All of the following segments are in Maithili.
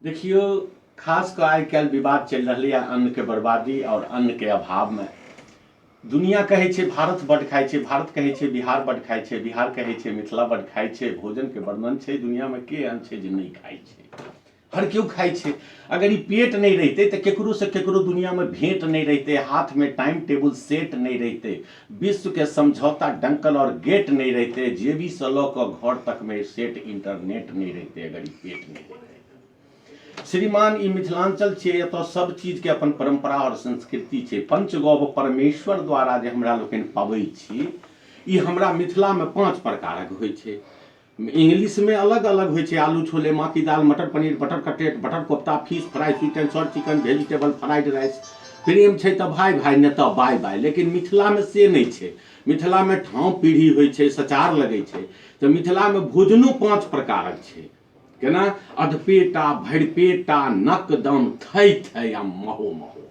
देखियौ खास कऽ आइ काल्हि विवाद चलि रहलैए अन्नके बर्बादी आओर अन्नके अभावमे दुनिया कहै छै भारत बड्ड खाइ छै भारत कहै छै बिहार बड्ड खाइ छै बिहार कहै छै मिथिला बड्ड खाइ छै भोजनके वर्णन छै दुनियामे के एहन छै जे नहि खाइ छै हर केओ खाइ छै अगर ई पेट नहि रहितै तऽ ककरोसँ ककरो दुनियामे भेँट नहि रहितै हाथमे टाइम टेबुल सेट नहि रहितै विश्व के समझौता डंकल और गेट नहीं रहते जेबी से लऽ कऽ घर तक में सेट इंटरनेट नहीं रहते अगर ई पेट नहीं रहते श्रीमान ई मिथिलांचल छै एतऽ सब चीज के अपन परंपरा और संस्कृति छै पंचगौव परमेश्वर द्वारा जे हमरा लोकनि पाबै छी ई हमरा मिथिला में पांच प्रकारक होइ छै इंग्लिशमे अलग अलग होइ छै आलू छोले माँ की दाल मटर paneer butter cutlet butter kofta fish fry sweet and salt chicken vegetable fried rice प्रेम छै तऽ भाय भाय नहि तऽ बाय बाय लेकिन मिथिलामे से नहि छै मिथिलामे ठाँव पीढ़ी होइ छै सचार लगै छै तऽ मिथिलामे भोजनो पाँच प्रकारक छै केना अधपेटा भरिपेटा नकदम थइ थइ आ महो महो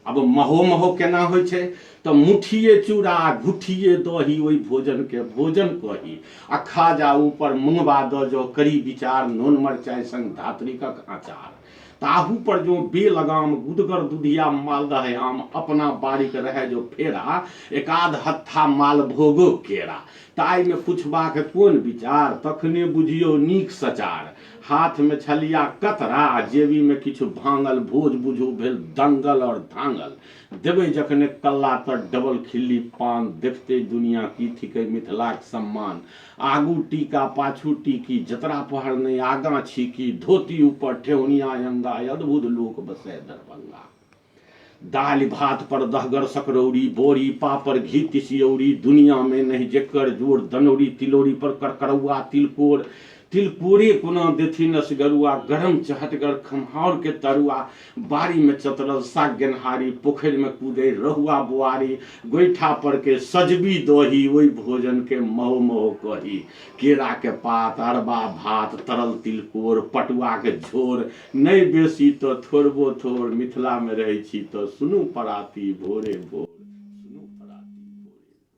अब महो महो केना होइ छै तऽ मुठिए चूड़ा आ घुठिए दही ओहि भोजनके भोजन कही आ खा जा ऊपर मुंगबा दऽ जँ करी विचार नोन मरचाइ संग धात्रिकक अँचार ताहू पर जँ बेल अगाम गुदगर दुधिया मालदह आम अपना बाड़ीक रहए जँ फेरा एकाध हत्था मालभोगो केरा ताहिमे पुछबाक कोन विचार तखने बुझियौ नीक सचार। हाथ मे छलिया कतरा आ जेबी मे किछु भांगल भोज बुझू भेल दंगल और धांगल। देबै जखने कल्ला त डबल खिल्ली पान देखतै दुनिया की थिकै मिथिलाक सम्मान। आगू टीका पाछू टीकी जतरा पहर नै आगां छीकी धोती ऊपर ठेहुनिया अंगाइ अद्भुत लोक बसै दरभंगा। दालि भात पर दहगर सकरौरी, बोरी, पापड़, घी तिसियौरी, दुनियाँ मे नहि जेकर जोड़, दनौरी, तिलौरी पर करकरौआ, तिलकोर, तिलकोरे कोना देथिन असगरुआ, गरम चहटगर खम्हाउर के तरुआ, बाड़ी मे चतरल साग गेनहारी, पोखरि मे कूदैर रहुआ बोआरी, गोइठा पर के सजबी दही, ओहि भोजन के महो महो कही, केरा के पात, अरबा भात, तरल तिलकोर, पटुआक झोर, नै बेसी तँ थोड़बो-थोड़ मिथिलामे रहै छी तँ सुनू पराती भोरे-भोर।